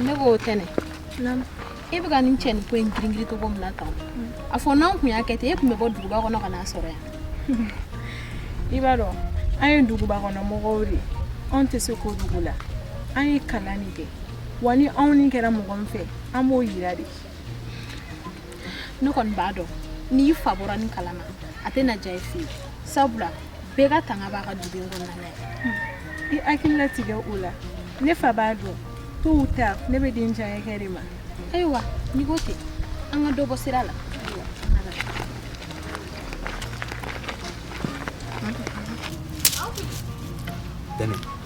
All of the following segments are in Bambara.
ne ko Tɛnɛ e bɛ ka nin cɛ nin ko in giringirin cogo min na tan a fɔ n'an tun y'a kɛ ten e tun bɛ bɔ duguba kɔnɔ ka n'a sɔrɔ yan i b'a dɔn an ye duguba kɔnɔ mɔgɔw de anw tɛ se kojugu la an ye kalan de kɛ wa ni anw ni kɛra mɔgɔ min fɛ an b'o yira de ne kɔni b'a dɔn n'i fa bɔra nin kalama a tɛ na diya i fɛ yen sabula bɛɛ ka tanga b'a ka duden kɔnɔna na i hakili latigɛ o la ne fa b'a dɔn tôt ou tard ne bɛ di n diyanye kɛ de ma ayiwa n'i ko ten an ka dɔ bɔ sira la Dani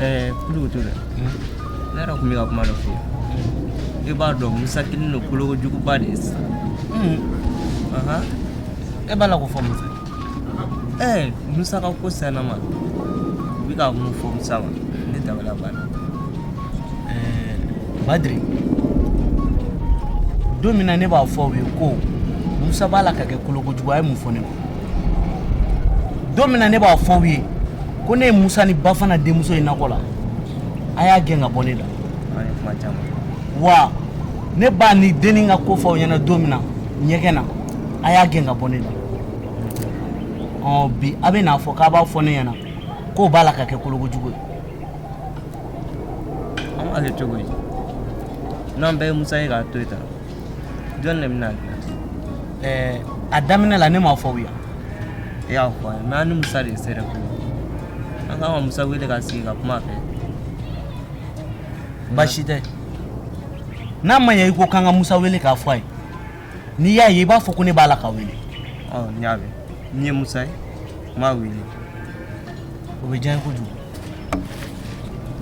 Eh, kulu t'o la ne yɛrɛ tun bɛ ka kuma dɔ fɔ i b'a dɔn musa kɛlen don kolokojuguba de ye sisan e b'a la ko fɔ musa ɛɛ eh, musa ka ko sen na maaw bɛ ka mun fɔ musa ma ne dabali banna ɛɛ eh, badiri don min na ne b'a fɔ aw ye ko musa b'a la ka kɛ kolokojugu a ye mun fɔ ne ma don min na ne b'a fɔ aw ye ko ne ye musa ni bafana denmuso ye nakɔ la a y'a gɛn ka bɔ ne da wa ne b'a ni denni ka ko fɔ aw ɲɛna don min na ɲɛgɛn na a y'a gɛn ka bɔ ne da ɔ bi a bɛ n'a fɔ k'a b'a fɔ ne ɲɛna k'o b'a la ka kɛ kolokojugu ye an b'a kɛ cogo di n'an bɛɛ ye musa ye k'a to yen tan jɔni de bɛn'a dilan ɛɛ a daminɛ la ne m'a fɔ aw ye e y'a fɔ a ye mɛ an ni musa de ye sɛrɛ ko an kan ka musa wele ka sigi ka kuma a fɛ baasi tɛ n'a ma ɲɛ i ko k'an ka musa wele k'a fɔ a ye n'i y'a ye i b'a fɔ ko ne b'a la k'a wele ɔ n y'a mɛn ni n ye musa ye n b'a wele o bɛ diya n ye kojugu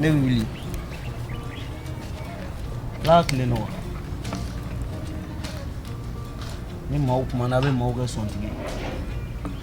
ne bɛ wuli ala ka tile nɔgɔya ni maaw kumana a bɛ maaw kɛ sɔntigi ye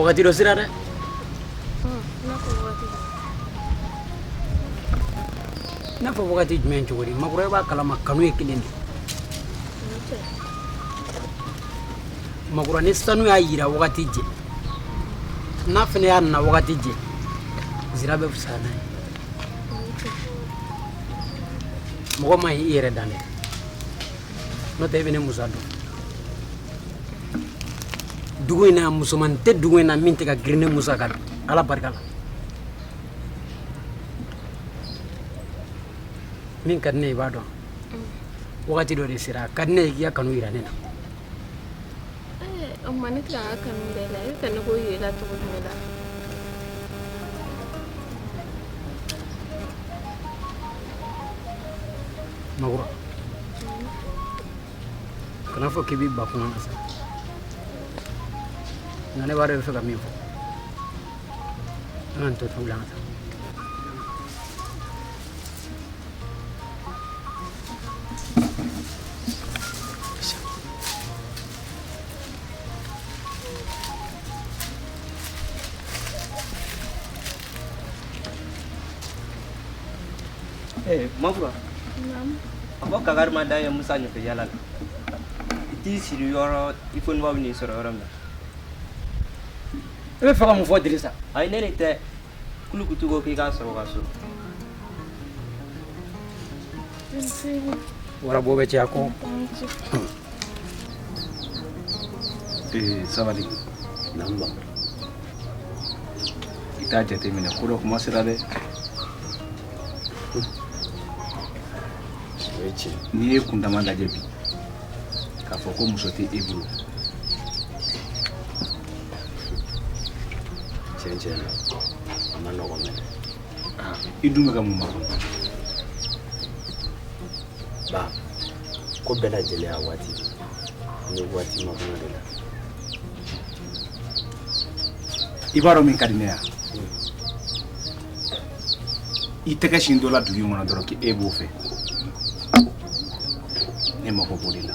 Wagati dɔ sera dɛ n'a fɔ wagati jumɛn cogo di makɔrɔ i b'a kalama kanu ye kelen de makura ni sanu y'a jira wagati jɛ n'a fana y'a nana wagati jɛ zira bɛ fisa n'a ye mɔgɔ ma i yɛrɛ dan dɛ n'o tɛ e bɛ ne musa dɔn dugu in na musoman tɛ dugu in na min tɛ ka girin ne musa kan ala barika la min ka di ne ye i b'a dɔn wagati dɔ de sera a ka di ne ye k'i ka kanu jira ne na o ma ne tila ka kanu bɛɛ la e ka ne ko yɛrɛ la cogo jumɛn la Magura kana fɔ k'i b'i ba kuma na sa nka ne b'a dɔn i bɛ fɛ ka min fɔ an ka nin to tugu la an ka taa Eh, magura. A fɔ kakari ma da ye musa ɲɛfɛ yala la i t'i sigi yɔrɔ i fo nɔgɔ bɛ n'i sɔrɔ yɔrɔ min na i bɛ fɛ ka mun fɔ dirisa ayi ne de tɛ kulukutu ko k'i k'a sɔrɔ ka so warabɔ bɛ caya kɔ ee sabali nanba i t'a jateminɛ ko dɔ kuma sera dɛ n'i y'i kundama lajɛ bi k'a fɔ ko muso tɛ e bolo cɛn cɛn na a man nɔgɔn dɛ i dun bɛ ka mun makɔnɔ ba ko bɛɛ lajɛlen y'a waati n bɛ waati makɔnɔ de la i b'a dɔn min ka di ne ye i tɛgɛ sin dɔ la dugu in kɔnɔ dɔrɔn k'e b'o fɛ ne mako b'o de la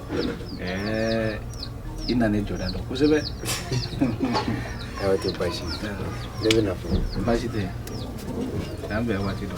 Ɛɛ i nana ne jɔda dɔn kosɛbɛ a tɛ basi ne bɛ na fɔ basi tɛ an bɛn waati dɔ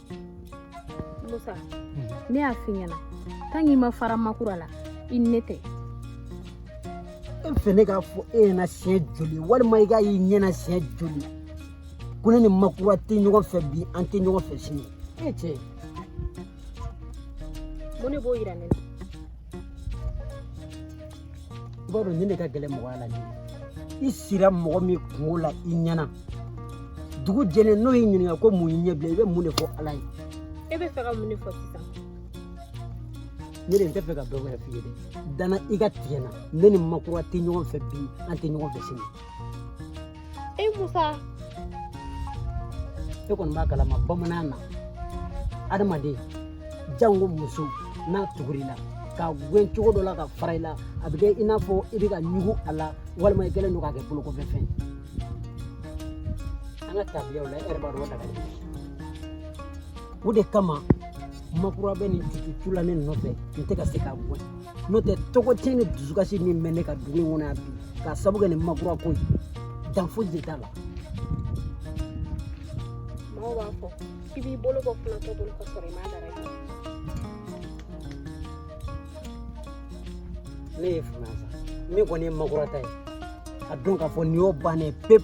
musa ne y'a f'i ɲɛna tan k'i ma fara makura la i ne tɛ e fɛ ne k'a fɔ e ɲɛna siɲɛ joli walima i k'a y'i ɲɛna siɲɛ joli ko ne ni makura tɛ ɲɔgɔn fɛ bi an tɛ ɲɔgɔn fɛ sini e cɛ mun de b'o yira ne na i b'a dɔn nin de ka gɛlɛn mɔgɔya la nin i sira mɔgɔ min kunko la i ɲɛ na dugu jɛlen n'o y'i ɲininka ko mun y'i ɲɛ bilen i bɛ mun de fɔ ala ye e bɛ fɛ ka mun de fɔ sisan ne de n tɛ fɛ ka dɔ wɛrɛ f'i ye dɛ da n na i ka tigɛ n na ne ni makura tɛ ɲɔgɔn fɛ bi an tɛ ɲɔgɔn fɛ sini Eh Musa. E kɔni b'a kalama bamanan na adamaden janko muso n'a tugura i la k'a gɛn cogo dɔ la k'a fara i la a bɛ kɛ i n'a fɔ i bɛ ka ɲugu a la walima i kɛlen don k'a kɛ bolokɔfɛfɛn an ka tabiyaw la e yɛrɛ b'a dɔn o dagali o de kama makura bɛ nin cucu la ne nɔfɛ n tɛ ka se k'a bɔ n'o tɛ tɔgɔtiɲɛ ni dusukasi min bɛ ne kan dugu in kɔnɔ yan bi k'a sabu kɛ nin makura ko ye dan foyi de t'a la maaw b'a fɔ k'i b'i bolo bɔ kunatɔ bolo ka sɔrɔ i m'a dara ye ne ye fanga sa min kɔni ye makura ta ye a dɔn k'a fɔ nin y'o bannen pewu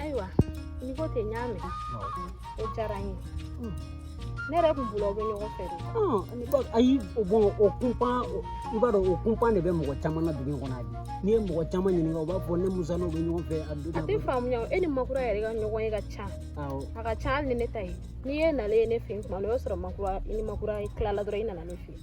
ayiwa n'i ko ten n y'a mɛn o diyara n ye ne yɛrɛ tun bolo aw bɛ ɲɔgɔn fɛ de ayi bon o kunpan i b'a dɔn o kunpan de bɛ mɔgɔ caman na dugu in kɔnɔ bi n'i ye mɔgɔ caman ɲininka u b'a fɔ ne musa n'o bɛ ɲɔgɔn fɛ a don a tɛ faamuya e ni makura yɛrɛ ka ɲɔgɔn ye ka ca a ka ca hali ni ne ta ye n'i ye nalen ye ne fɛ yen tuma o y'a sɔrɔ makura i ni makura tilala dɔrɔn i nana ne fɛ yen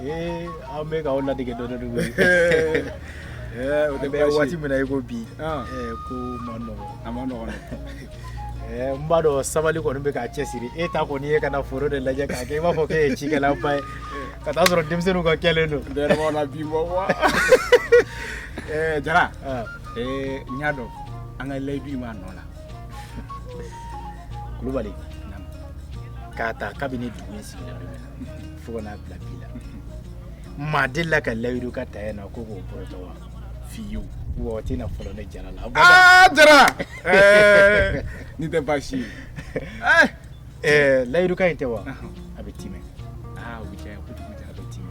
Ee an bɛ k'aw ladege dɔɔni dɔɔni koyi. Ɛɛ o tɛ baasi ye. An bɛ waati min na i ko bi. Ɔn! Ɛɛ ko man nɔgɔ. A man nɔgɔ dɛ. Ɛɛ n b'a dɔn sabali kɔni bɛ k'a cɛsiri. E ta kɔni ye ka na foro de lajɛ k'a kɛ i b'a fɔ k'e ye cikɛlaba ye. Ka t'a sɔrɔ denmisɛnninw ka kɛlen don. Ne yɛrɛ b'a la bi bɔ wa. Ɛɛ Jara. Ɔn! Ee n y'a dɔn an ka layidu in b'a nɔ la. Kulubali. Naamu. K'a ta kabini dugu in sigira don min na. fo ka n'a bila bi la maa delila ka layidukan ta yan na ko k'o bɔrɔtɔ wa fiyewu wa o tɛna fɔlɔ ne jara la aa jara nin tɛ baasi ye eh! eh, layidukan in tɛ wa a bɛ timɛ aa o bɛ diya n ye kojugu jara a bɛ timɛ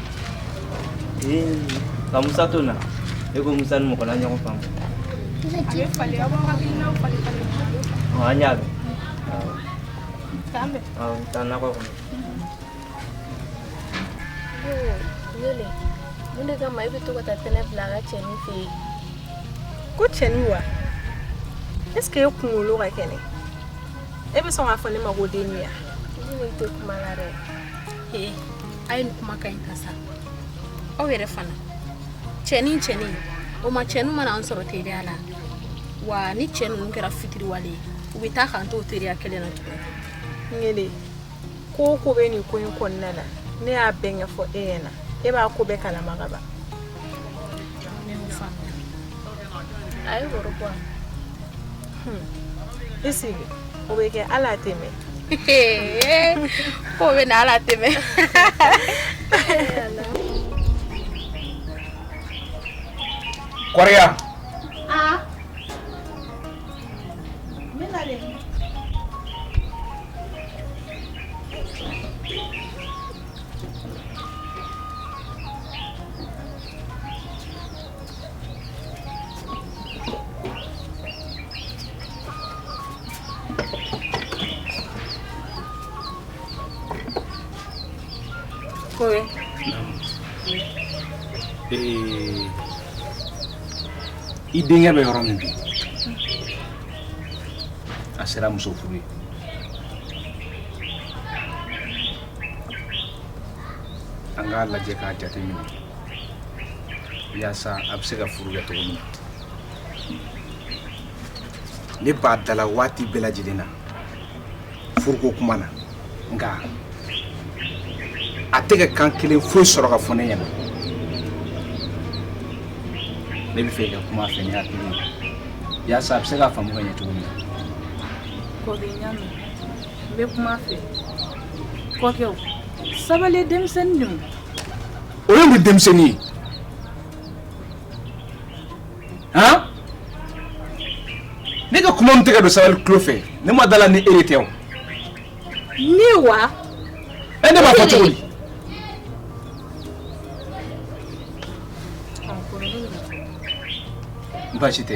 Nka musa to na e ko musa ni mɔgɔla ɲɔgɔn faamu an y'a mɛn taa nakɔ kɔnɔ wele mun de kama i bɛ to ka taa tɛnɛ bila a ka cɛnin fɛ yen ko cɛnin wa est ce que e kunkolo ka kɛnɛ e bɛ sɔn k'a fɔ ne ma ko den ni ya ne tɛ kuma la dɛ a ye nin kuma ka ɲi ta sa aw yɛrɛ fana cɛnin cɛnin o ma cɛ ninnu ma na an sɔrɔ teriya la wa ni cɛ ninnu kɛra fitiriwale ye u bɛ taa k'an to teriya kelen na tuguni ngele ko o ko bɛ nin ko in kɔnɔna na ne y'a bɛɛ ɲɛfɔ e ɲɛna e b'a ko bɛɛ kalama ka ban ne y'o faamuya a ye woro bɔ a la. Hmm. i sigi o bɛ kɛ hali a tɛ mɛn ko bɛ na hali a tɛ mɛn kɔrɔya Kowe. Eh, i denkɛ bɛ yɔrɔ min bi a sera muso furu ye an k'a lajɛ k'a jateminɛ yaasa a bɛ se ka furu kɛ cogo min na ne b'a da la waati bɛɛ lajɛlen na furuko kuma na nka a tɛ ka kan kelen foyi sɔrɔ ka fɔ ne ɲɛna ne b'a fɛ i ka kuma a fɛ ni hakili ye yaasa a bɛ se k'a faamu ka ɲɛ cogo min na kɔkɛ n y'a mɛn n bɛ kuma a fɛ kɔkɛ sabali denmisɛnnin don o ye mun denmisɛnnin ye han ne ka kuma min tɛ ka don sabali tulo fɛ ne ma da a la ni e de tɛ o ne wa ɛ ne b'a fɔ cogo di baasi tɛ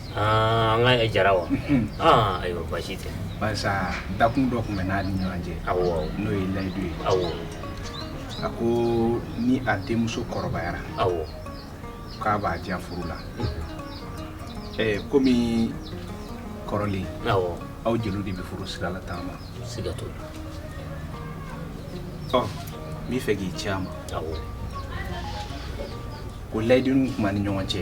Aa an ka jara wa ayiwa baasi tɛ dakun dɔ tun bɛ n'a ni ɲɔgɔn cɛ n'o ye layidu ye awɔ a ko ni a denmuso kɔrɔbayara awɔ k'a b'a di yan furu la kɔmi kɔrɔlen aw jeliw de bɛ furu sira la taama siga t'o la n b'a fɛ k'i ci a ma ko layidu tun b'an ni ɲɔgɔn cɛ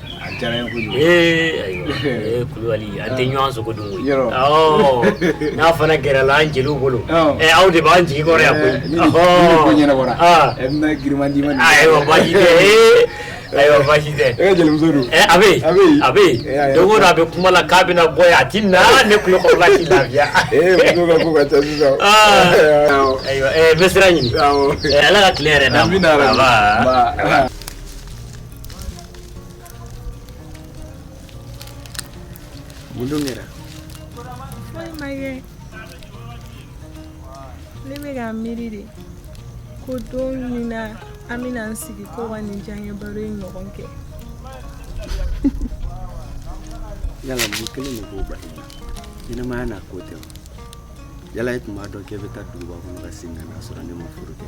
Kulubali an tɛ ɲɔgɔn sogo dun n'a fana gɛrɛla an jeliw bolo aw de b'an jigi kɔrɔ yan koyi baasi tɛ don o don a bɛ kuma la k'a bɛna bɔ yan a tɛ na ne tulo kɔrɔla tɛ lafiya n bɛ sira ɲini ala ka tile hɛrɛ Mun kɛra? Foyi ma kɛ. Ne bɛ ka miiri de ko don min na an bɛna an sigi ko ka nin diyaɲɛ baro in ɲɔgɔn kɛ. Yala mun kelen de b'o bali la? Ɲɛnamaya n'a ko tɛ wa? Yala e tun b'a dɔn k'e bɛ taa duguba kɔnɔ ka segin ka na sɔrɔ ne ma furu kɛ?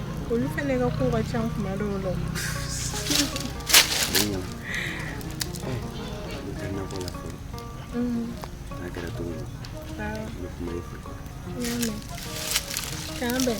olu fɛnɛ ka ko ka ca kuma dɔw la n'a kɛra cogo min na n bɛ kuma i fɛ k'an bɛn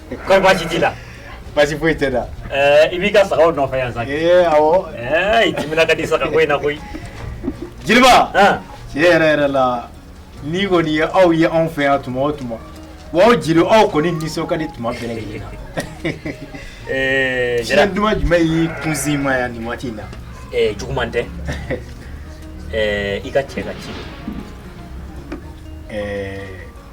baasi t'i la baasi foyi tɛ da i b'i ka sagaw nɔfɛ yan sa i timina ka di saga ko in na koyi jeliba tiɲɛ yɛrɛ yɛrɛ la ne kɔni ye aw ye anw fɛ yan tuma o tuma aw jeliw aw kɔni nisɔn ka di tuma bɛɛ lajɛlen na fiɲɛ duman jumɛn y'i kunsin ma yan nin waati in na juguman tɛ i ka cɛ ka ci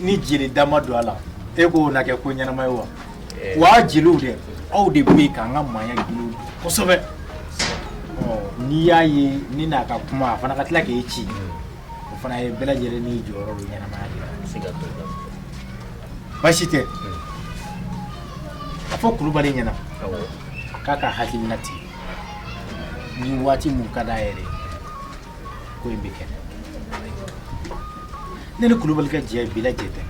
Ni jeli da ma don a la e k'o na kɛ ko ɲɛnama ye wa wa jeliw dɛ aw de bɛ yen k'an ka maaya dilan kosɛbɛ ɔ n'i y'a ye ni n'a ka kuma a fana ka tila k'e ci o fana ye bɛɛ lajɛlen n'i jɔyɔrɔ don ɲɛnamaya de la baasi tɛ a fɔ kulubali ɲɛna k'a ka hakilina tigɛ ni waati mun ka d'a yɛrɛ ye ko in bɛ kɛ ne ni kulubali ka jɛ bi la jɛ tɛ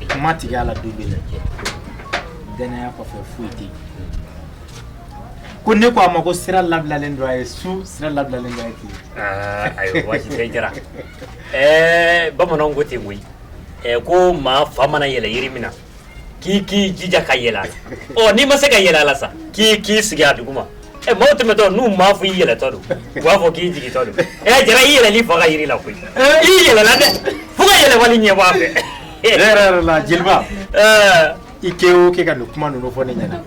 kuma tigɛ a la don bɛɛ lajɛ dannaya kɔfɛ foyi tɛ yen ko ne ko a ma ko sira labilalen don a ye su sira labilalen don a ye tile ayiwa baasi tɛ jara ɛɛ bamananw ko ten koyi ko maa fa mana yɛlɛ yiri min na k'i k'i jija ka yɛlɛ a la ɔ n'i ma se ka yɛlɛ a la sa k'i k'i sigi a duguma ɛ maaw tɛmɛtɔ n'u m'a fɔ i yɛlɛtɔ don u b'a fɔ k'i jigitɔ don ɛ jara i yɛlɛla i fa ka yiri la koyi i yɛlɛla dɛ fo ka yɛlɛbali ɲɛ bɔ a fɛ tiɲɛ yɛrɛ yɛrɛ la jeliba i kɛ o kɛ ka nin kuma ninnu fɔ ne ɲɛna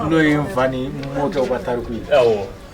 n'o ye n fa ni n mɔkɛw ka tariku ye awɔ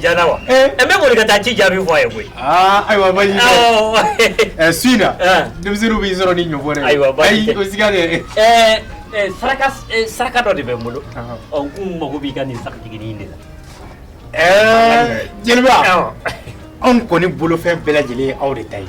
ja wa n bɛ boli ka taa ci jaabi fɔ a ye koyi ayiwa baasi tɛ su in na denmisɛnnin b'i sɔrɔ ni ɲɔgɔn dɛ ayiwa baasi tɛ saraka dɔ de bɛ n bolo ɔ n tun mago b'i ka nin sagajigi de la ɛɛ jeliba anw kɔni bolofɛn bɛɛ lajɛlen ye aw de ta ye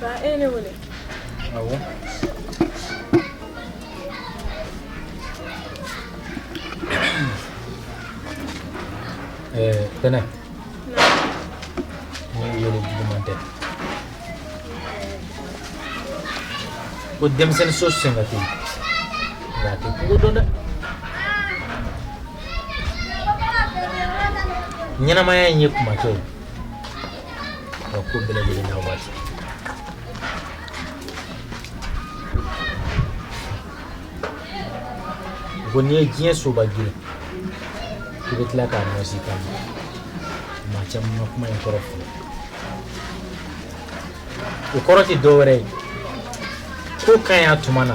Ba e ne wele awɔ tɛnɛ ne y'i wele juguman tɛ ko denmisɛnnin so sen ka teli nka a tɛ kungo dɔn dɛ ɲɛnamaya in ye tuma ko ye ka ko bɛɛ lajɛlen n'a waati ko n'i ye diɲɛ soba girin i bɛ tila k'a nɔsi taama maa caman ma kuma in kɔrɔ sɔrɔ o kɔrɔ tɛ dɔwɛrɛ ye ko ka ɲi a tuma na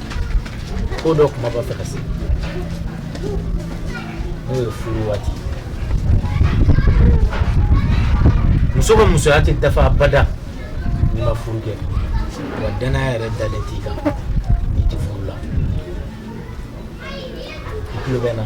ko dɔ tuma b'a fɛ ka se n'o ye furu waati muso ka musoya tɛ dafa abada n'i ma furu kɛ wa danaya yɛrɛ dalen t'i kan n'i tɛ furu la i tulo bɛ n na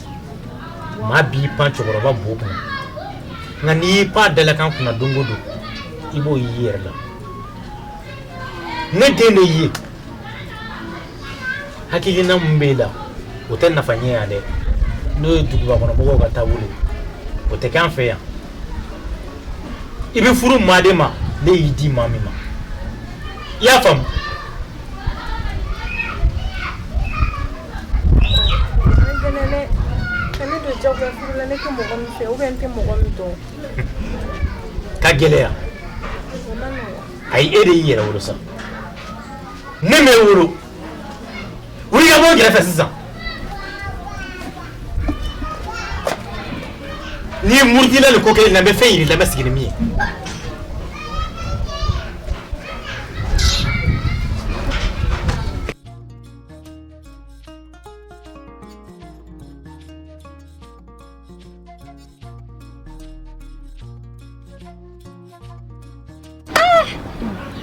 Maa b'i pan cɛkɔrɔba bo kunna nka n'i y'i pan a dalakan kunna don o don i b'o y'i yɛrɛ la ne den de y'i ye hakilina min b'e la o tɛ nafa ɲɛ yan dɛ n'o ye dugubakɔnɔmɔgɔw ka taabolo ye o tɛ kɛ an fɛ yan i bɛ furu maa de ma ne y'i di maa min ma i y'a faamu Ka gɛlɛya ayi e de y'i yɛrɛ wolo sa ne m'e wolo wuli ka bɔ n kɛrɛ sisan n'i murutila nin ko kelen na n bɛ fɛn yir'i la n bɛ sigi ni min ye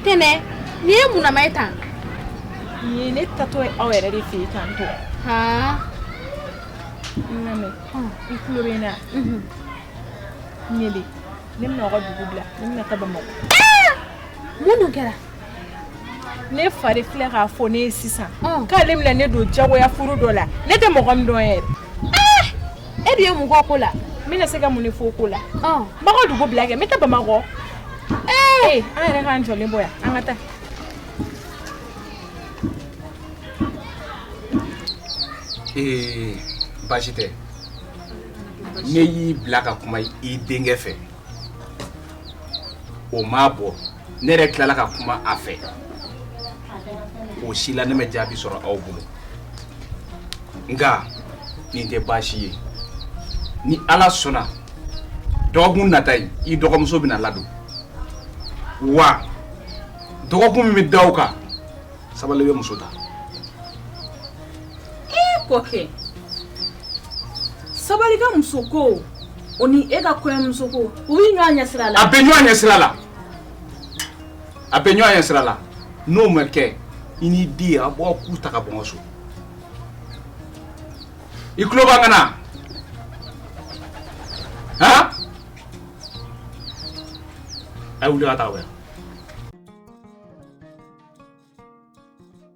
tɛnɛ nin ye munama ye tan nin ye ne taatɔ ye aw yɛrɛ de fɛ yen tan to ka n lamɛn i tulo bɛ n na ɲele ne bɛna aw ka dugu bila ne bɛna taa bamakɔ mun dun kɛra ne fa de filɛ k'a fɔ ne ye sisan k'ale bɛna ne don jagoya furu dɔ la ne tɛ mɔgɔ min dɔn yɛrɛ e de ye mun kɔ ko la n bɛna se ka mun de fɔ ko la n b'aw ka dugu bila kɛ n bɛ taa bamakɔ ee an yɛrɛ k'an jɔlen bɔ yan an ka taa ee baasi tɛ ne y'i bila ka kuma i denkɛ fɛ o m'a bɔ ne yɛrɛ tilala ka kuma a fɛ o si la ne ma jaabi sɔrɔ aw bolo nka nin tɛ baasi ye ni ala sɔnna dɔgɔkun nata in i dɔgɔmuso bɛna ladon wa dɔgɔkun min bɛ da o kan sabali bɛ muso ta ee kɔkɛ sabali ka muso ko o ni e ka kɔɲɔmuso ko u bɛ ɲɔgɔn ye sira la a bɛ ɲɔgɔn ye sira la a bɛ ɲɔgɔn ye sira la n'o ma kɛ i n'i den a b'aw ku ta ka bɔ n ka so i tulo b'an kan na han a ye wuli ka taa wɛrɛ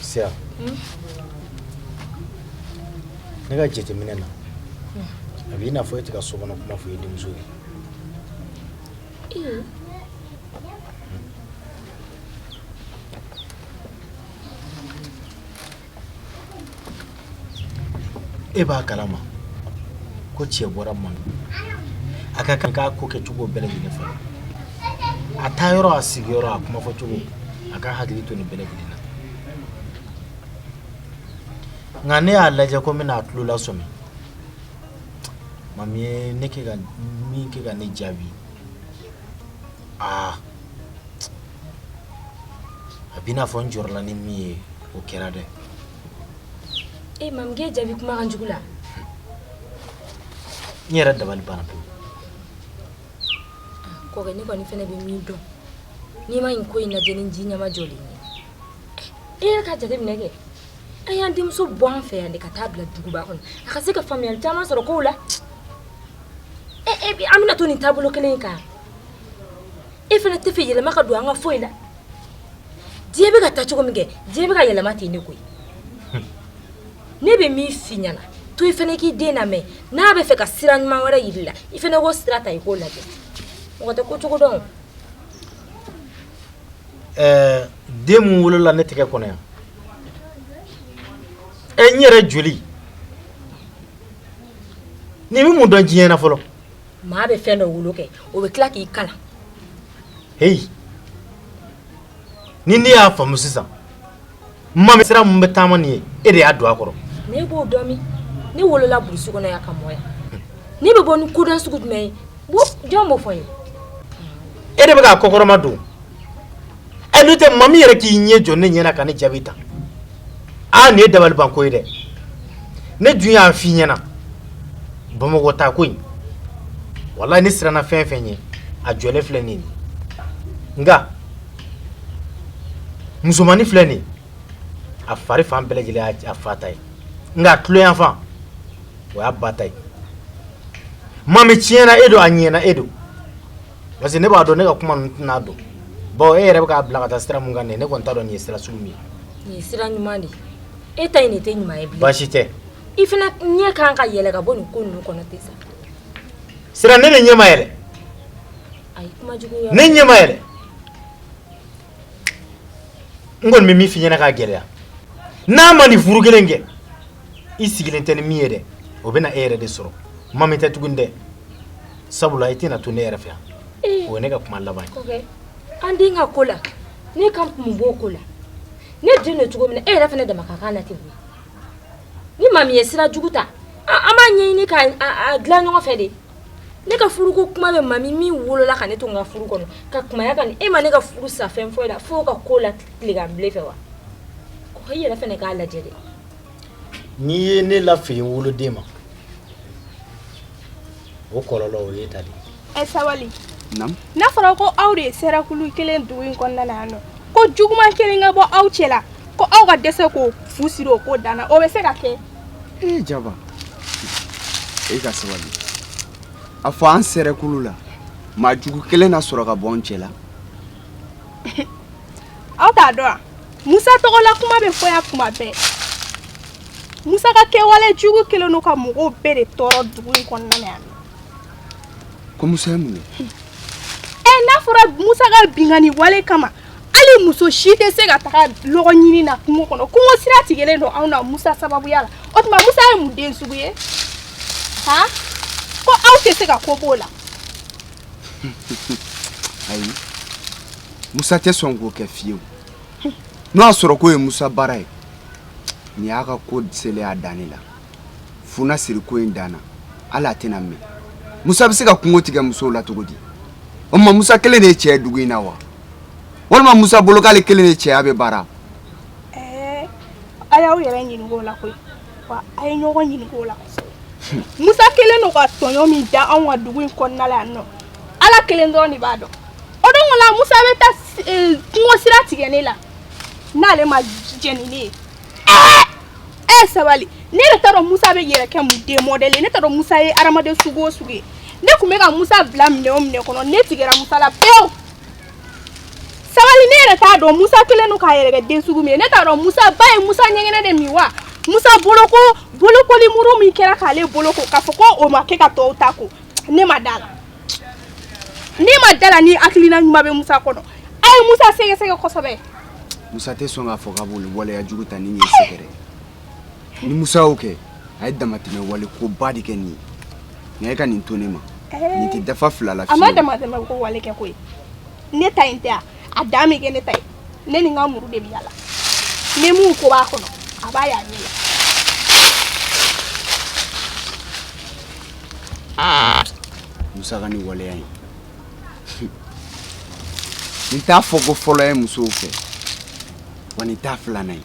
Siya ne ka jateminɛ na a bɛ i n'a fɔ e tɛ ka so kɔnɔ kuma fɔ e denmuso ye e b'a kalama ko cɛ bɔra a ma a ka kan k'a ko kɛ cogo bɛɛ lajɛlen falen a taa yɔrɔ a sigiyɔrɔ a kuma fɔ cogo a k'a hakili to nin bɛɛ lajɛlen na nka ne y'a lajɛ ko n bɛna a tulo lasɔmi mami ye ne kɛ ka min kɛ ka ne jaabi aa a b'i n'a fɔ n jɔrɔla ni min ye o kɛra dɛ e mami k'e jaabi kuma kan jugu la n yɛrɛ dabali banna pewu kɔkɛ ne kɔni fɛnɛ bɛ min dɔn n'i ma nin ko in lajɛ ni ji ɲɛmajɔlen ye e yɛrɛ ka jate minɛ kɛ an y'an denmuso bɔ an fɛ yan de ka taa bila duguba kɔnɔ a ka se ka faamuyali caman sɔrɔ kow la e e an bɛna to nin taabolo kelen in kan e fana tɛ fɛ yɛlɛma ka don an ka foyi la diɲɛ bɛ ka taa cogo min kɛ diɲɛ bɛ ka yɛlɛma ten ne koyi ne bɛ min f'i ɲɛna a to i fana k'i den lamɛn n'a bɛ fɛ ka sira ɲuman wɛrɛ yir'i la i fana k'o sira ta i k'o lajɛ mɔgɔ tɛ ko cogo dɔn ɛɛ den min wolola ne tɛgɛ kɔnɔ yan ɛ n yɛrɛ joli nin bɛ mun dɔn diɲɛ na fɔlɔ Maa bɛ fɛn dɔ wolo kɛ o bɛ tila k'i kalan heyi ni ne y'a faamu sisan Mami sira min bɛ taama nin ye e de y'a don a kɔrɔ ne b'o dɔn min ne wolola burusi kɔnɔ yan ka mɔ yan ne bɛ bɔ ni koda sugu jumɛn ye jɔn b'o fɔ n ye e de bɛ k'a kɔkɔrɔmadon ɛ n'o tɛ Mami yɛrɛ k'i ɲɛ jɔ ne ɲɛna ka ne jaabi tan aa nin ye dabalibanko ye dɛ ne dun y'a f'i ɲɛna bamakɔ taa ko in walayi ne siranna fɛn fɛn ɲɛ a jɔlen filɛ nin ye nka musomannin filɛ nin ye a fari fan bɛɛ lajɛlen y'a fa ta ye nka a tuloyanfan o y'a ba ta ye Mami tiɲɛna e don a ɲɛna e don parce que ne b'a dɔn ne ka kuma ninnu tɛna don bon e yɛrɛ bɛ k'a bila ka taa sira mun kan nin ye ne kɔni t'a dɔn nin ye sira sugu min ye. nin ye sira ɲuman de ye e ta in de tɛ ɲuman ye bilen. baasi tɛ. i fana ɲɛ kan ka yɛlɛ ka bɔ nin ko ninnu kɔnɔ ten sa. sira ne de ɲɛ ma yɛlɛ. ayi kuma jugu yɔrɔ. ne ɲɛ ma yɛlɛ. n kɔni bɛ min f'i ɲɛna k'a gɛlɛya n'a ma nin furu kelen kɛ i sigilen tɛ ni min ye dɛ o bɛ na e yɛrɛ de sɔrɔ Mami tɛ tuguni dɛ. Sabula i tɛna to ne yɛrɛ fɛ yan ee o ye ne ka kuma laban ye ok an den ka ko la ne ka n kun b'o ko la ne den don cogo min na e yɛrɛ fana dama ka kan na ten koyi ni Mami ye sira jugu ta an an b'a ɲɛɲini ka a a dilan ɲɔgɔn fɛ de ne ka furuko kuma bɛ Mami min wolola ka ne to n ka furu kɔnɔ ka kunbaya ka nin e ma ne ka furu sa fɛn foyi la f'o ka ko la tilegan bilen fɛ wa ko i yɛrɛ fana k'a lajɛ de N'i ye ne lafili woloden ma o kɔlɔlɔ o y'e ta dɛ ɛ sabali n'a fɔra ko aw de ye sɛrɛkulu kelen dugu in kɔnɔna na yan mɔgɔ juguman kelen ka bɔ aw cɛ la ko aw ka dɛsɛ ka fu siri o ko dan na o bɛ se ka kɛ e Jaba e ka sabali a fɔ an sɛrɛkulu la maa jugu kelen na sɔrɔ ka bɔ an cɛ la aw t'a dɔn wa musa tɔgɔla kuma bɛ fɔ yan kuma bɛɛ musa ka kɛwale jugu kelen don ka mɔgɔw bɛɛ de tɔɔrɔ dugu in kɔnɔna na yan ko musa ye mun ye ɛ n'a fɔra musa ka binkanni wale kama hali muso si tɛ se ka taga lɔgɔ ɲini na kungo kɔnɔ kungo sira tigɛlen don anw na musa sababuya la o tuma musa ye mun den sugu ye han ko aw tɛ se ka ko b'o la ayi musa tɛ sɔn k'o kɛ fiyewu n'o y'a sɔrɔ k'o ye musa baara ye nin y'a ka ko selen y'a dan de la fu na siri ko in dan na hali a tɛna mɛɛn musa bɛ se ka kungo tigɛ musow la cogo di o tuma musa kelen de ye cɛ ye dugu in na wa walima musa bolo k'ale kelen de cɛya bɛ baara a y'aw yɛrɛ ɲininka o la koyi wa a ye ɲɔgɔn ɲininka o la musa kelen don ka tɔɲɔ min da anw ka dugu in kɔnɔna la yan nɔ ala kelen dɔrɔn de b'a dɔn o don la musa bɛ taa kungo sira tigɛ ne la n'ale ma jɛn ni ne ye ɛɛ ɛɛ sabali ne yɛrɛ t'a dɔn musa bɛ yɛrɛ kɛ mun den mɔdɛli ye ne t'a dɔn musa ye hadamaden sugu o sugu ye ne tun bɛ ka musa bila minɛn o minɛn kɔnɔ ne tigɛra musa la pewu sabali ne yɛrɛ t'a dɔn musa kelen don k'a yɛrɛ kɛ den sugu min ye ne t'a dɔn musa ba ye musa ɲɛgɛnɛ de min wa musa boloko bolokoli muru min kɛra k'ale boloko k'a fɔ ko o ma kɛ ka tɔw ta ko ne ma da la ne ma da la ni hakilina ɲuman bɛ musa kɔnɔ a ye musa sɛgɛsɛgɛ kosɛbɛ musa tɛ sɔn k'a fɔ k'a b'olu waleya jugu ta ni nin ye sɛgɛrɛ ni musa y'o kɛ a ye damatɛmɛ wale ko ba de kɛ nin ye nka e ka nin to ne ma nin tɛ dafa fila la fiyewu a ma damatɛmɛ ko wale kɛ koyi ne ta in tɛ a a dan bɛ kɛ ne ta ye ne ni n ka muru de bɛ yala ni mun ko b'a kɔnɔ a b'a y'a ɲɛ la musa ka nin waleya in nin t'a fɔ ko fɔlɔ ye musow fɛ wa nin t'a filanan ye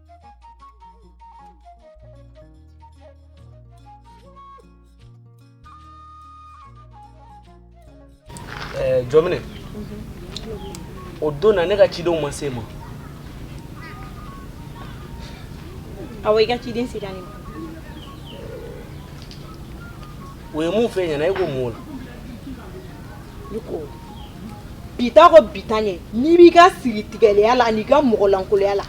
Eh, jɔmine o don na ne ka cidenw ma s'i ma awɔ i ka ciden sera ne ma o ye mun f'i ɲɛna e ko mun o la ne ko i bɛ taa ko i bɛ taa ɲɛ n'i b'i ka siri tigɛlɛya la an'i ka mɔgɔlankoloya la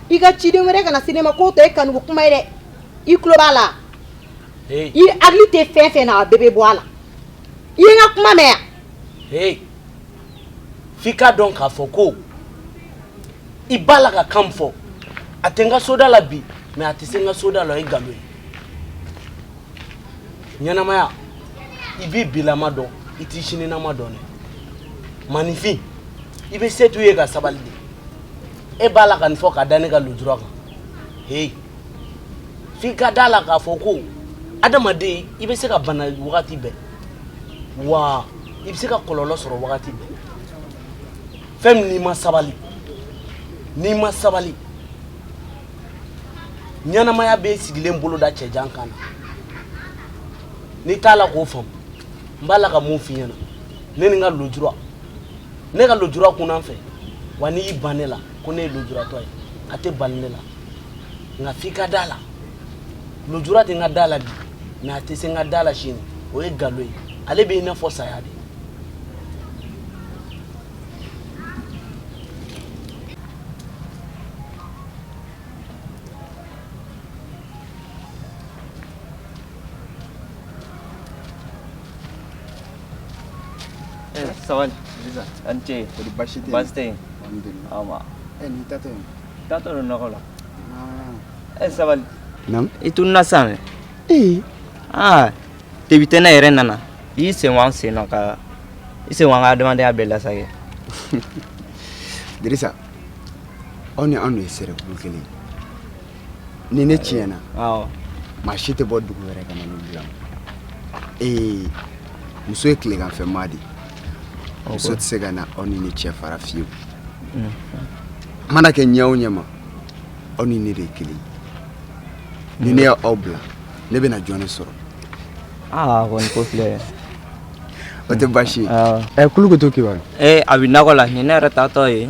i ka ciden wɛrɛ kana se ne ma k'o tɛ e kanuko kuma ye dɛ i tulo b'a la Hey, i hakili tɛ fɛn fɛn na a bɛɛ bɛ bɔ a la i ye n ka kuma mɛn yan hey. f'i k'a dɔn k'a fɔ ko i b'a la ka kan min fɔ a tɛ n ka soda la bi mais a tɛ se n ka soda la o ye nkalon ye ɲɛnamaya i b'i bilama dɔn i t'i sininama dɔn dɛ maninfin i bɛ se t'u ye ka sabali dɛ e b'a la ka nin fɔ ka da ne ka lujura kan heyi f'i ka da la k'a fɔ ko adamaden i bɛ se ka bana wagati bɛɛ wa i bɛ se ka kɔlɔlɔ sɔrɔ wagati bɛɛ fɛn min n'i ma sabali n'i ma sabali ɲɛnamaya bɛ sigilen bolo da cɛjan kan na n'i t'a la k'o faamu n b'a la ka mun f'i ɲɛna ne ni n ka lujura ne ka lojura kunna n fɛ wa n'i y'i ban ne la ko ne ye lojuratɔ ye a tɛ bali ne la nka f'i ka da la lojura tɛ n ka da la bi mɛ a tɛ se n ka da la sini o ye nkalon ye ale bɛ i n'a fɔ saya de Eh, sabali an ce baasi tɛ ni taatɔ don nakɔ la e sabali i tun na san aa debi tɛ ne yɛrɛ nana i sen sen ka i sen ka adamadenya a bɛɛ lasagin dirisa aw ni anw ye sɛrɛ kelen ni ne tiɲɛna maa si tɛ bɔ dugu wɛrɛ ka na ne bila ee muso ye tileganfɛ maa de muso tɛ se ka na aw ni ne cɛ fara fiyewu mana kɛ ɲɛ o ɲɛma aw ni ne de ye kelen ni ne y'aw bila ne bɛna jɔn de sɔrɔ aa kɔni ko filɛ o tɛ baasi ye ɛ kulukutu kibaru ee a bɛ nakɔ la nin ne yɛrɛ taatɔ ye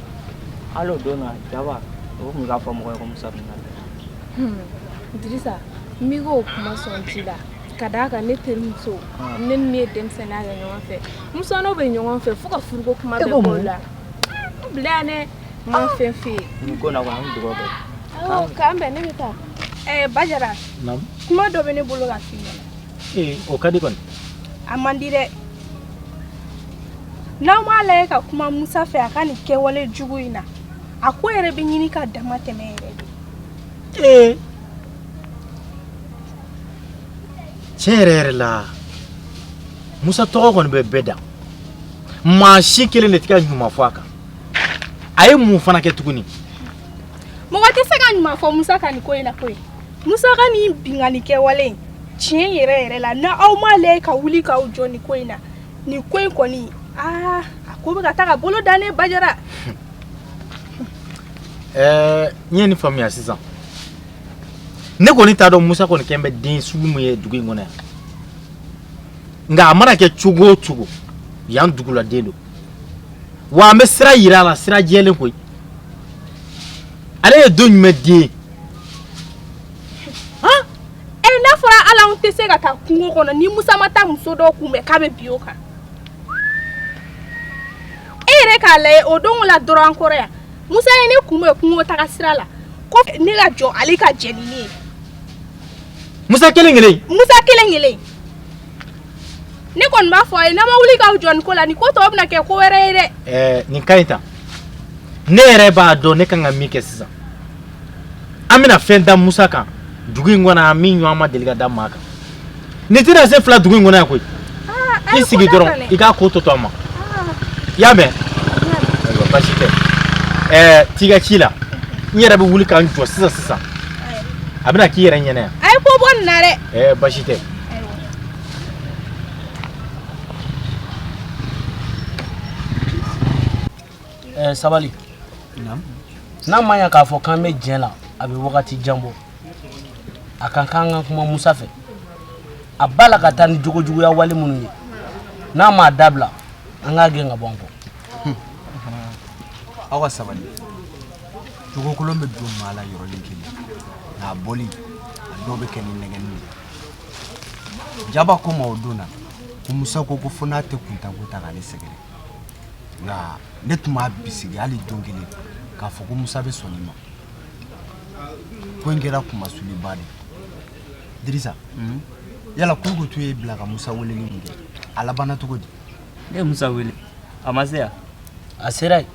Hali o don na jaba o tun k'a fɔ mɔgɔ ye ko musa dirisa n o kuma sɔn ji la ka d'a kan ne terimuso ah. ne ni ye denmisɛnninya kɛ ɲɔgɔn fɛ musa n'o bɛ ɲɔgɔn fɛ fo ka furuko kuma bɛɛ b'o la bila ne ma fɛn fɛ yen ko na k'an dugawu kɛ k'an bɛn ne bɛ taa ɛɛ bajara kuma dɔ bɛ ne bolo ka f'i ɲɛna ee o ka di kɔni a man di dɛ n'aw m'a lajɛ ka kuma musa fɛ a ka nin kɛwale jugu in na a ko yɛrɛ bɛ ɲini ka damatɛmɛ yɛrɛ de ee tiɲɛ yɛrɛ yɛrɛ la musa tɔgɔ kɔni bɛ bɛɛ da maa si kelen de tɛ ka ɲuman fɔ a kan a ye mun fana kɛ tuguni mɔgɔ tɛ se ka ɲuman fɔ musa ka nin ko in na koyi musa ka nin binkanni kɛwale in tiɲɛ yɛrɛ yɛrɛ la n'aw m'a lajɛ ka wuli k'aw jɔ nin ko in na nin ko in kɔni aa a ko bɛ ka taa ka bolo da ne bajara ɛɛ n ye nin faamuya sisan ne kɔni t'a dɔn musa kɔni kɛn bɛ den sugu min ye dugu in kɔnɔ yan nka a mana kɛ cogo o cogo yan duguladen don wa an bɛ sira yira a la sira jɛlen koyi ale ye don jumɛn den ye E n'a fɔra ala anw tɛ se ka taa kungo kɔnɔ ni musa ma taa muso dɔ kunbɛn k'a bɛ bin o kan e yɛrɛ k'a lajɛ o don la dɔrɔn an kɔrɔ yan musa ye ne kunbɛn kungo taga sira la ko ne ka jɔ ale ka jɛ ni ne ye musa kelen kelen musa kelen kelen ne kɔni b'a fɔ a ye n'a ma wuli k'aw jɔ nin ko la nin ko tɔ bɛna kɛ ko wɛrɛ ye dɛ nin ka ɲi ta ne yɛrɛ b'a dɔn ne kan ka min kɛ sisan an bɛna fɛn da musa kan dugu in kɔnɔ yan min ɲɔgɔn ma deli ka da maa kan nin tɛna se fila dugu in kɔnɔ yan koyi i sigi dɔrɔn i k'a ko tɔ to an ma i y'a mɛn ayiwa basi tɛ ɛɛ t'i ka ci la n yɛrɛ bɛ wuli ka n jɔ sisan sisan a bɛna k'i yɛrɛ ɲɛna yan a ye ko bɔ nin na dɛ ɛɛ basi tɛ Eh, sabali n'a ma ɲa k'a fɔ k'an bɛ jɛn la a bɛ wagati jan bɔ an ka kan ka kuma musa fɛ a b'a la ka taa ni jogojuguya wale minnu ye n'a m'a dabila an k'a gɛn ka bɔ an kɔ aw ka sabali jogokolon bɛ don maa la yɔrɔnin kelen nka a bɔli a dɔw bɛ kɛ ni nɛgɛnni ye jaba ko n ma o don na ko musa ko ko fo n'a tɛ kuntanko ta k'ale sɛgɛrɛ nka ne tun b'a bisigi hali don kelen k'a fɔ ko musa bɛ sɔn nin ma ko in kɛra kunmasuliba de dirisa yala kulukutu y'e bila ka musa weleli min kɛ a labanna cogo di Ne ye musa wele a ma se yan a sera yen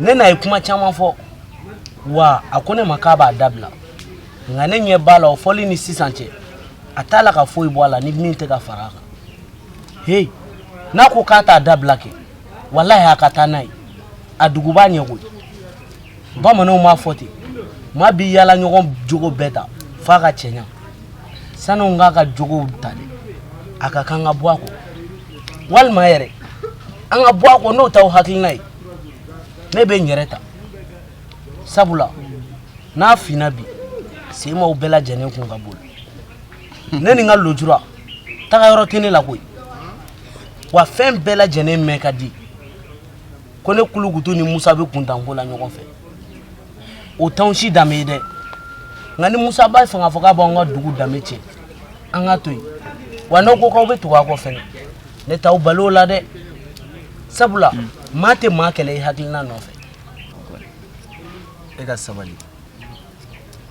ne n'a ye kuma caman fɔ wa a ko ne ma k'a b'a dabila nka ne ɲɛ b'a la o fɔli ni sisan cɛ a t'a la ka foyi bɔ a la ni min tɛ ka fara a kan heyi n'a ko k'a t'a dabila kɛ walahi a ka taa n'a ye a dugu b'a ɲɛ koyi bamananw m'a fɔ ten maa b'i yaala ɲɔgɔn jogo bɛɛ ta f'a ka cɛɲa sani an k'a ka jogow ta dɛ a ka kan ka bɔ an kɔ walima yɛrɛ an ka bɔ a kɔ n'o t'aw hakilina ye ne bɛ n yɛrɛ ta sabula n'a finna bi senmaw bɛɛ lajɛlen kun ka boli ne ni n ka lojura taga yɔrɔ tɛ ne la koyi wa fɛn bɛɛ lajɛlen mɛn ka di ko ne kulukutu ni musa bɛ kuntanko la ɲɔgɔn fɛ o t'anw si danbe ye dɛ nka ni musa b'a fɛ k'a fɔ k'a b'an ka dugu danbe tiɲɛ an k'a to yen wa n'aw ko k'aw bɛ tugu a kɔ fɛnɛ ne t'aw bali o la dɛ sabula maa tɛ maa kɛlɛ i hakilina nɔfɛ e ka sabali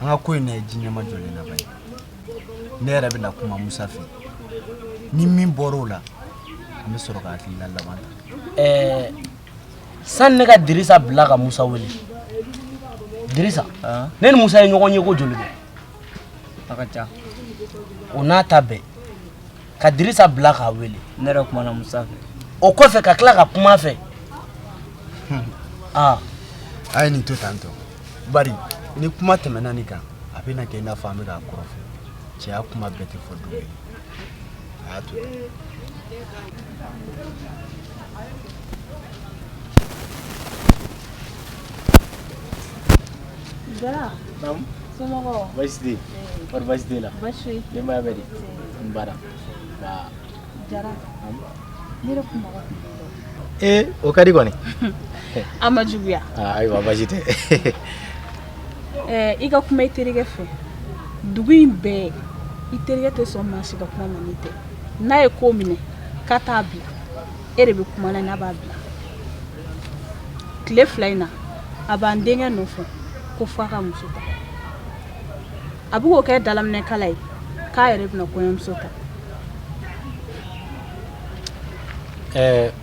an ka ko in lajɛ ji ɲɛmajɔlen na bani ne yɛrɛ bɛna kuma musa fɛ ni min bɔra o la an bɛ sɔrɔ ka hakilina laban ta sani ne ka dirisa bila ka musa wele dirisa ne ni musa ye ɲɔgɔn ye ko joli kɛ a ka ca o n'a ta bɛɛ ka dirisa bila k'a wele ne yɛrɛ kumana musa fɛ o kɔfɛ ka tila ka kuma fɛ aa a ye nin to tan tɔ bari ni kuma tɛmɛna nin kan a bɛna kɛ i n'a fɔ an bɛ k'a kɔrɔfɔ cɛya kuma bɛɛ tɛ fɔ dɔgɔ ye Jara somɔgɔw baasi tɛ yen kɔri baasi tɛ la denbaya bɛ di n bara Jara ne yɛrɛ kun mago ee o ka di kɔni a ma juguya ayiwa baasi tɛ i ka kuma i terikɛ fɛ dugu in bɛɛ i terikɛ tɛ sɔn maa si ka kuma ma n'e tɛ n'a ye ko minɛ k'a t'a bila e de bɛ kuma na n'a b'a bila tile fila in na a b'an denkɛ nɔfɛ ko fo a ka muso ta a bɛ k'o kɛ dalaminɛkala ye k'a yɛrɛ bɛna kɔɲɔmuso ta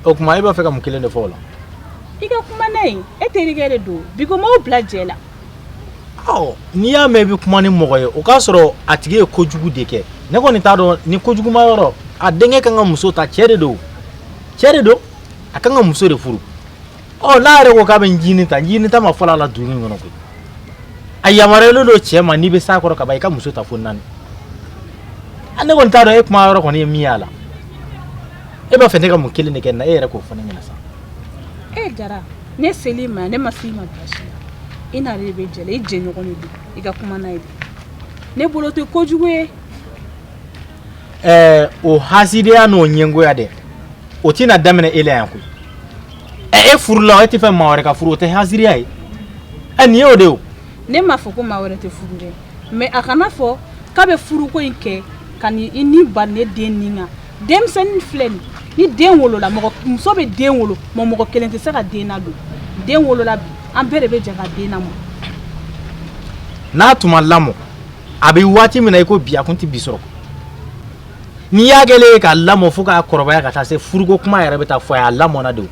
o kuma e b'a fɛ ka mun kelen de fɔ o la i ka kuma n'a ye e terikɛ de don bi ko m'aw bila jɛ la n'i y'a mɛn i bɛ kuma ni mɔgɔ ye o k'a sɔrɔ a tigi ye ko kojugu de kɛ ne kɔni t'a dɔn nin ko kojuguma yɔrɔ a denkɛ kan ka muso ta cɛ de don cɛ de don a ka kan ka muso de furu ɔ n'a yɛrɛ ko k'a bɛ ncinin ta ncinin ta ma fɔlɔ a la dugu in kɔnɔ koyi a yamaruyalen don cɛ ma n'i bɛ s'a kɔrɔ ka ban i ka muso ta fo naani a ne kɔni t'a dɔn e kuma yɔrɔ kɔni ye min y'a la e b'a fɛ ne ka mun kelen de kɛ na e yɛrɛ k'o fɔ ne ɲɛna sa e jara ne sel'i ma ne ma s'i ma baasi i n'a de bɛ jɛ la i jɛɲɔgɔn de don i ka kuma n'a ye ne bolo tɛ kojugu ye ɛɛ o hasidiya n'o ɲɛngoya dɛ o tɛna daminɛ e la yan koyi ɛ e furula e t'a fɛ maa wɛrɛ ka furu o tɛ hasidiya ye ɛ nin y'o de o ne m'a fɔ ko maa wɛrɛ tɛ furu dɛ mɛ a kana fɔ k'a bɛ furuko in kɛ ka ni i ni bali ne den nin kan denmisɛnnin filɛ nin ni den wolola mɔgɔ muso bɛ den wolo mɔ mɔgɔ kelen tɛ se ka den nadon den wolola bi an bɛɛ de bɛ jɛ ka den namɔ n'a tun ma lamɔ a bɛ waati min na i ko bi a kun tɛ bi sɔrɔ n'i y'a kɛlen ye k'a lamɔ fo k'a kɔrɔbaya ka taa se furuko kuma yɛrɛ bɛ taa fɔ a ye a lamɔna de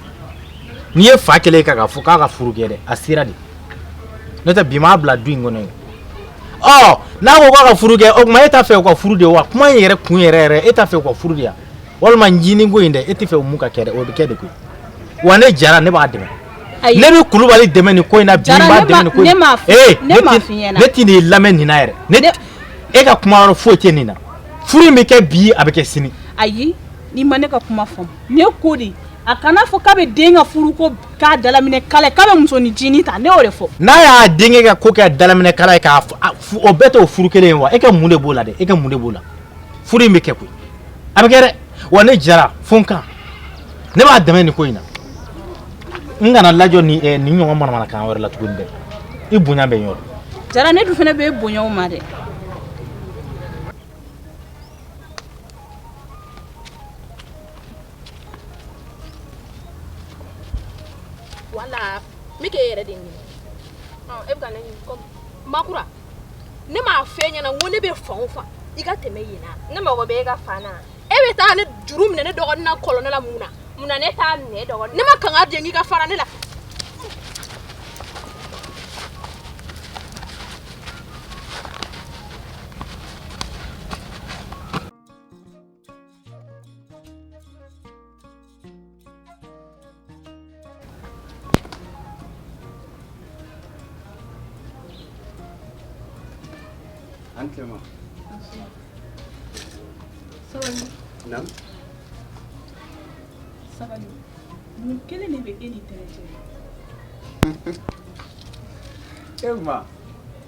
n'i ye fa kɛlen ye ka k'a fɔ k'a ka furu kɛ dɛ a sera de n'o tɛ bi m'a bila du in kɔnɔ ye n'a ko ka furu kɛ o tuma e t'a fɛ u ka furu de wa kuma in yɛrɛ kun yɛrɛ yɛrɛ e t'a fɛ u ka furu de yan walima jini ko in dɛ e t'a fɛ o mun ka kɛ dɛ o bɛ kɛ de koyi wa ne jara ne b'a dɛmɛ ne bɛ kulubali dɛmɛ nin ko in na bi b'a dɛmɛ nin ko in na ee ne tɛn'i lamɛn nin na yɛrɛ e ka kuma yɔrɔ foyi tɛ nin na furu in bɛ kɛ bi a bɛ kɛ sini ayi n'i ma ne ka kuma faamu ne ko de a kana fɔ k'a bɛ den ka furu ko k'a dalaminɛ kala ye k'a bɛ muso ni jini ta ne y'o de fɔ. n'a y'a denkɛ ka ko kɛ dalaminɛ kala ye k'a o bɛɛ t'o furu kelen ye wa e ka mun de b'o la dɛ e ka mun de b'o la furu in bɛ kɛ koyi a bɛ kɛ dɛ wa ne jara fo n kan ne b'a dɛmɛ nin ko in na n kana lajɔ nin eh, nin ɲɔgɔn manamanakan wɛrɛ la tuguni dɛ i bonya bɛ n yɔrɔ. jara ne dun fana bɛ bonya o ma dɛ. wala n bɛ k'e yɛrɛ de ɲini ɔ e bɛ ka ne ɲini kɔmi makura ne m'a f'e ɲɛna n ko ne bɛ fan o fan i ka tɛmɛ yen na ne mago bɛ e ka fan na e bɛ taa ne juru minɛ ne dɔgɔnin na kɔlɔnda la mun na mun na ne t'a minɛ dɔgɔnin ne ma kanga di n k'i ka fara ne la Antrenman. Sabali. Naamu. Sabali. Mun kɛlɛ de bɛ e ni tɛnɛ cɛ? Emma.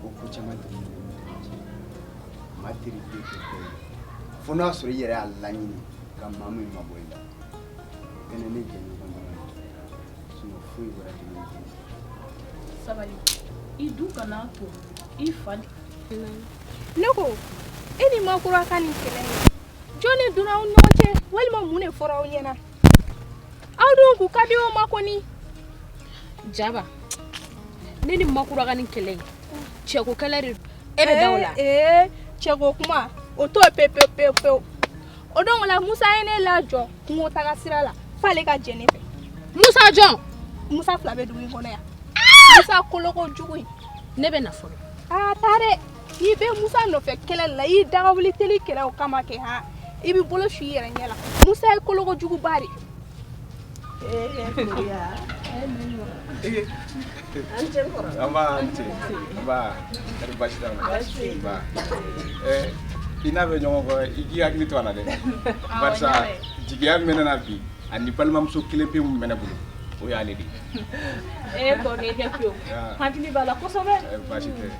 ko ko caman tɛ maa teri ko fo n'a sɔrɔ i yɛrɛ y'a laɲini ka maa min mabɔ i la kɛnɛ ne jɛ ɲɔgɔn dɔrɔn foyi wɛrɛ tɛ sabali i du kana to i fa ne ko e ni makura ka nin kɛlɛ ye jɔn de donna aw ɲɔgɔn cɛ walima mun de fɔra aw ɲɛna aw dun k'u ka di o ma kɔni jaba ne ni makura ka nin kɛlɛ ye cɛko kɛlɛ de e bɛ da o la eh, eh, cɛko kuma o t'o pe pe pe pe o don o la musa ye ne lajɔ kungo taga sira la f'ale ka jɛ ne fɛ musa jɔn musa fila bɛ dugu in kɔnɔ yan musa koloko jugu in ne bɛ na fɔlɔ aa taa dɛ n'i bɛ musa nɔfɛ kɛlɛ la i dagawuli teli kɛlɛ o kama kɛ ha i bɛ bolo su i yɛrɛ ɲɛ la musa ye kolokojuguba de i n'a bɛ ɲɔgɔn kɔ i k'i hakili to a la dɛ parce que jigiya min bɛ ne na bi ani balimamuso kelen pe min bɛ ne bolo o y'ale de ye e kɔni i kɛ pewu hakili b'a la kosɛbɛ baasi tɛ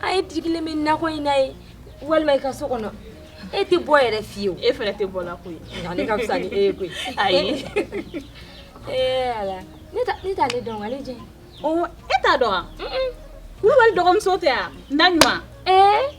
A ye digilen bɛ nakɔ in na yen walima i ka so kɔnɔ e tɛ bɔ yɛrɛ fiyewu e fana tɛ bɔ la koyi ne ka fisa ni e ye koyi ayi ee ala ne t'ale dɔn ale jɛ ɔ e t'a dɔn wa kulubali dɔgɔmuso tɛ yan Naɲuman ee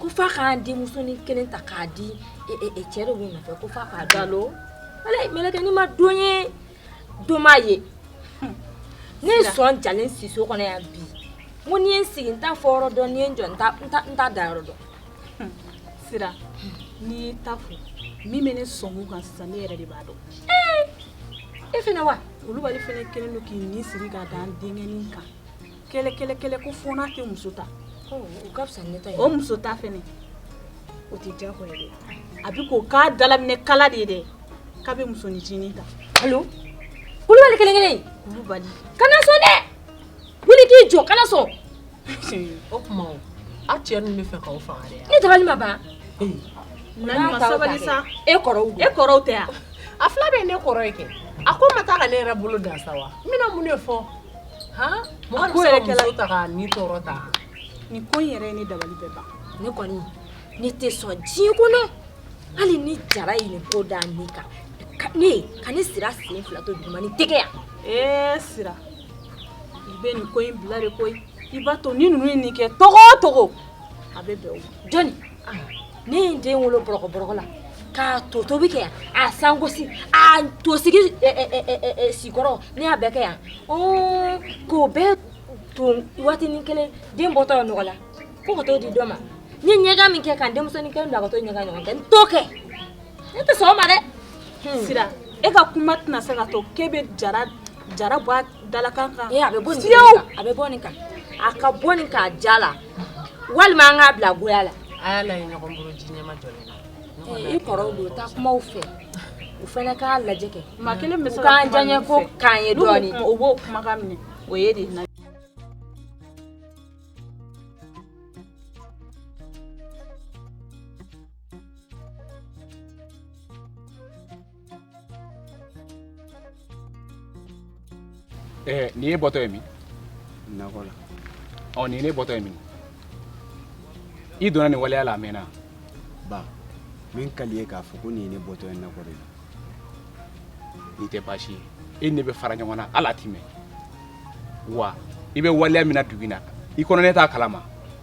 ko f'a ka n denmusonin kelen ta k'a di cɛ de bɛ n nɔfɛ ko f'a k'a dalo ala mɛlɛkɛnin ma don ye don m'a ye ne ye sɔn jalen si so kɔnɔ yan bi ko ni n ye n sigi n t'a fɔyɔrɔ dɔn ni n ye n jɔ n t'a dayɔrɔ dɔn sira n'i y'i ta fɔ min bɛ ne sɔn kan sisan ne yɛrɛ de b'a dɔn e fɛnɛ wa kulubali fana kelen don k'i ni siri ka da n denkɛnin kan kɛlɛ kɛlɛ kɛlɛ ko fo n'a tɛ muso ta o ka fisa ne ta ye o muso ta fɛnɛ o tɛ diyagoya ye dɛ a bɛ k'o k'a dalaminɛ kala de ye dɛ k'a bɛ musoninncinin ta alo kulubali kelen kelen kulubali kana sɔn dɛ wuli k'i jɔ kana sɔn o tuma o a cɛ ninnu b'a fɛ k'aw faga dɛ ne dabali ma ban Naɲuman sabali sa e kɔrɔw e kɔrɔw tɛ yan a fila bɛɛ ye ne kɔrɔ ye kɛ a ko n ma taa ka ne yɛrɛ bolo dan sa wa n bɛna mun de fɔ nin ko in yɛrɛ ye ne dabali bɛɛ ban ne kɔni ne tɛ sɔn diɲɛ kɔnɔ hali ni jara ye nin ko da ne kan ka ne sira sen fila to duguma nin tɛ kɛ yan ee eh, sira i bɛ nin ko in bila de koyi i b'a to ni ninnu ye nin kɛ cogo o cogo a bɛ bɛn o jɔni ne ye n den wolo bɔrɔkɔ bɔrɔkɔ la k'a to tobi kɛ yan a sangosi a to sigi sikɔrɔ ne y'a bɛɛ kɛ yan k'o bɛɛ ton waatinin kelen den bɔtɔ ye nɔgɔ la ko ka t'o di dɔ ma n ye ɲɛgan min kɛ ka n denmusonin kelen bila ka t'o ɲɛgan ɲɔgɔn kɛ n t'o kɛ ne tɛ sɔn o ma dɛ hmm. sira e ka kuma tɛna se ka to k'e bɛ jara bɔ a dalakan kan a bɛ bɔ nin kan a ka bɔ nin kan diya la walima an k'a bila goya la a y'a ɲɔgɔn bolo ji ɲɛma jɔ i kɔrɔw don taa kumaw fɛ u fɛnɛ k'a lajɛ kɛ maa kelen bɛ se ka k'an diyaɲɛ ko k'an ye dɔɔnin o b'o kumakan minɛ o ye de Eh, n y'e bɔtɔ ye min nakɔ la ɔ n'i ye ne bɔtɔ ye min i donna nin waleya la a mɛnna ba min ka di ye k'a fɔ ko n'i ye ne bɔtɔ ye nakɔ de la nin tɛ baasi ye e ni ne bɛ fara ɲɔgɔn na hali a ti mɛn wa i bɛ waleya min na dugu in na i kɔnɔ ne t'a kalama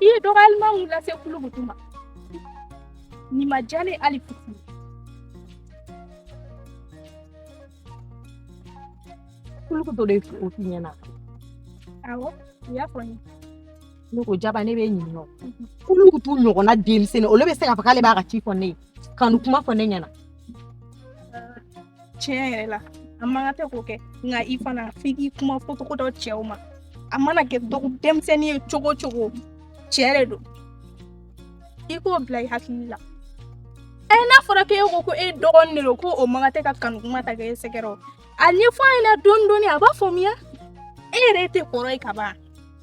I ye dɔgɔyali min lase Kulugutu ma nin ma diya n ye hali fitini Kulugutu de y'o f'i ɲɛna awɔ a y'a fɔ n ye ne ko jaba ne bɛ ɲininka o Kulugutu ɲɔgɔnna denmisɛnnin olu bɛ se k'a fɔ k'ale b'a ka ci fɔ ne ye kanu kuma fɔ ne ɲɛna tiɲɛ yɛrɛ la a man kan tɛ k'o kɛ nka i fana f'i k'i kuma fɔcogo dɔn cɛw ma a mana kɛ dɔgɔ denmisɛnnin ye cogo cogo tiɲɛ de don i k'o bila i hakili la ɛ n'a fɔra k'e ko ko e dɔgɔnin de don ko o man kan tɛ ka kanu kuma ta k'e sɛgɛrɛ o a ɲɛfɔ a ɲɛna dɔɔni dɔɔni a b'a faamuya e yɛrɛ tɛ kɔrɔ ye ka ban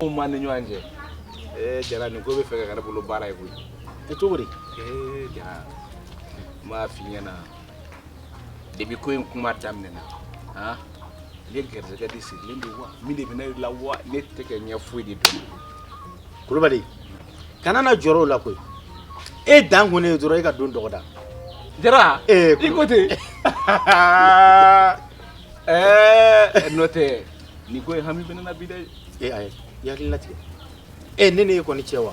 Mun b'an ni ɲɔgɔn cɛ ee jara nin ko b'a fɛ ka kɛ ne bolo baara ye koyi e cogo di ee jara n b'a f'i ɲɛna depi ko in kuma daminɛna han ne garijɛgɛ de sirilen don wa min de bɛ ne la wa ne tɛ ka ɲɛ foyi de dɔn kulubali kana na jɔrɔ o la koyi e dan ko ne ye dɔrɔn e ka don dɔgɔda jara ee i ko ten Ɛɛ n'o tɛ nin ko in hami bɛ ne na bi dɛ. Ee ayi i hakili latigɛ ee ne n'e kɔni cɛ wa.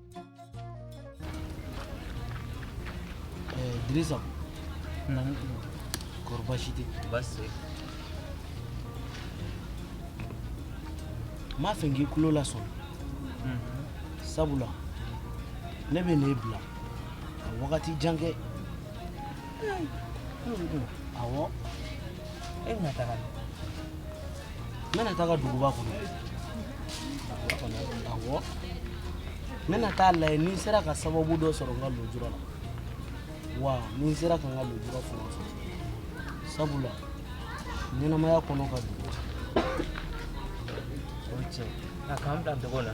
Idrisa. Nba. Kori baasi tɛ. Baasi. M'a fɛ k'i kulo lasɔn sabula ne bɛna e bila ka wagati jan kɛ Awɔ e bɛna taga min? N bɛna taga duguba kɔnɔ, awɔ, n bɛna ta'a lajɛ ni n sera ka sababu dɔ sɔrɔ n ka lujura la wa ni n sera ka n ka lujura fana sɔrɔ sabula ɲɛnamaya kɔnɔ ka dun o ye tiɲɛ ye. A k'an bila n tɔgɔ la.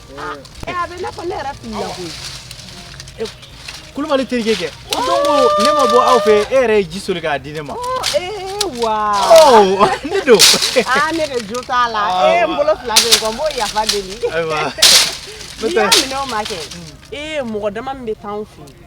Ɛ a bɛ n'a fɔ ne yɛrɛ filila koyi. Ɛ Kulubali terikɛ kɛ. O don ko ne ma bɔ aw fɛ e yɛrɛ ye ji soli k'a di ne ma. Ee wa. Ɔ ne don. Aa ne de jo t'a la. Ee n bolo fila bɛ n kɔ n b'o yafa deli. Ayiwa. N'i y'a minɛ o ma kɛ. Ee mɔgɔ dama min bɛ taa anw fɛ yen.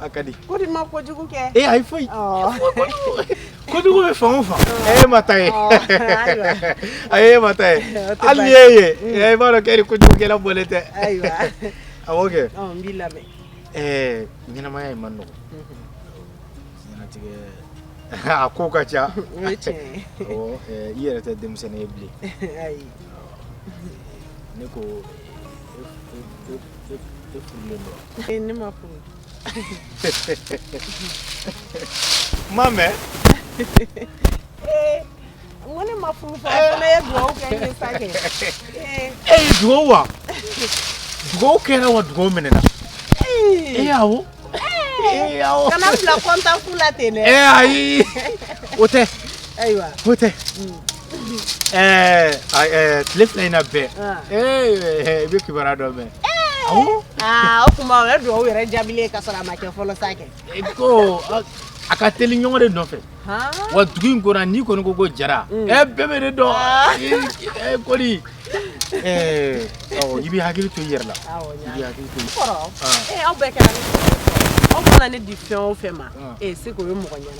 a ka di ko di ma kojugu kɛ e ayi foyi kojugu bɛ fan o fan e ma taa yen ayi e ma taa yen hali n'i y'e ye i b'a dɔn k'e ni kojugukɛla bɔlen tɛ awɔ kɛ n b'i lamɛn ɛɛ ɲɛnamaya in man nɔgɔn ɲɛnatigɛ a ko ka ca i yɛrɛ tɛ denmisɛnnin ye bilen ne ko e furulen don Eh, ne ma furu Mame eh, ko ne ma furu fa ne ye dugawu kɛ n ye sa kɛ eh. e ye dugawu wa dugawu kɛra wa dugawu minɛna e awɔ kana bila kɔntan fu la ten dɛ ayi o tɛ ayiwa o tɛ mm. Ɛɛ tile fila in na bɛɛ i bɛ kibaruya dɔ mɛn o tuma o ye dugawu yɛrɛ jaabilen ka sɔrɔ a ma kɛ fɔlɔ sa kɛ ko a ka teli ɲɔgɔn de nɔfɛ wa dugu in kɔnɔ n'i kɔni ko ko jara ɛ bɛɛ bɛ ne dɔn kɔni i bɛ hakili to i yɛrɛ la aw bɛɛ kɛra aw mana ne di fɛn o fɛn ma e se o ye mɔgɔ ɲɛna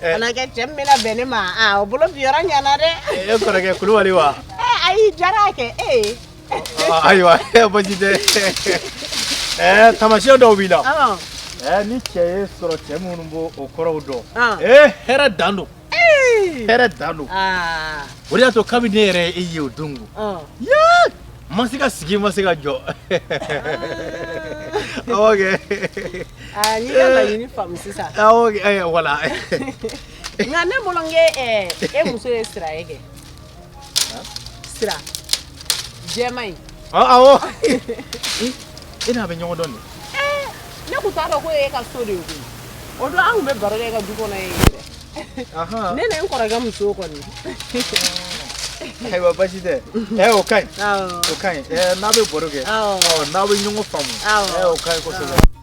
Kɛ cɛ min bɛna bɛn ne ma o bolo bin yɔrɔ ɲana dɛ e kɔrɔkɛ kulubali wa ayi jara kɛ e ayiwa baasi tɛ ɛɛ tamasiɲɛ dɔw b'i la ɛɛ ni cɛ y'e sɔrɔ cɛ minnu b'o o kɔrɔw dɔn ee hɛrɛ dan don hɛrɛ dan don o de y'a to kabini ne yɛrɛ y'e ye o don Ma se ka sigi ma se ka jɔ wala nka ne bolonkɛ e muso ye sira e kɛ sira jɛ in e n'a bɛ ɲɔgɔn dɔn ne tun t'a dɔn ko e ka so de o don anw bɛ baro ka du kɔnɔ ye ne ni n kɔrɔkɛ muso kɔni ayiwa basi tɛ ɛ o ka ɲi o ka ɲi n'a bɛ baro kɛ n'aw bɛ ɲɔgɔn faamu o ka ɲi kosɛbɛ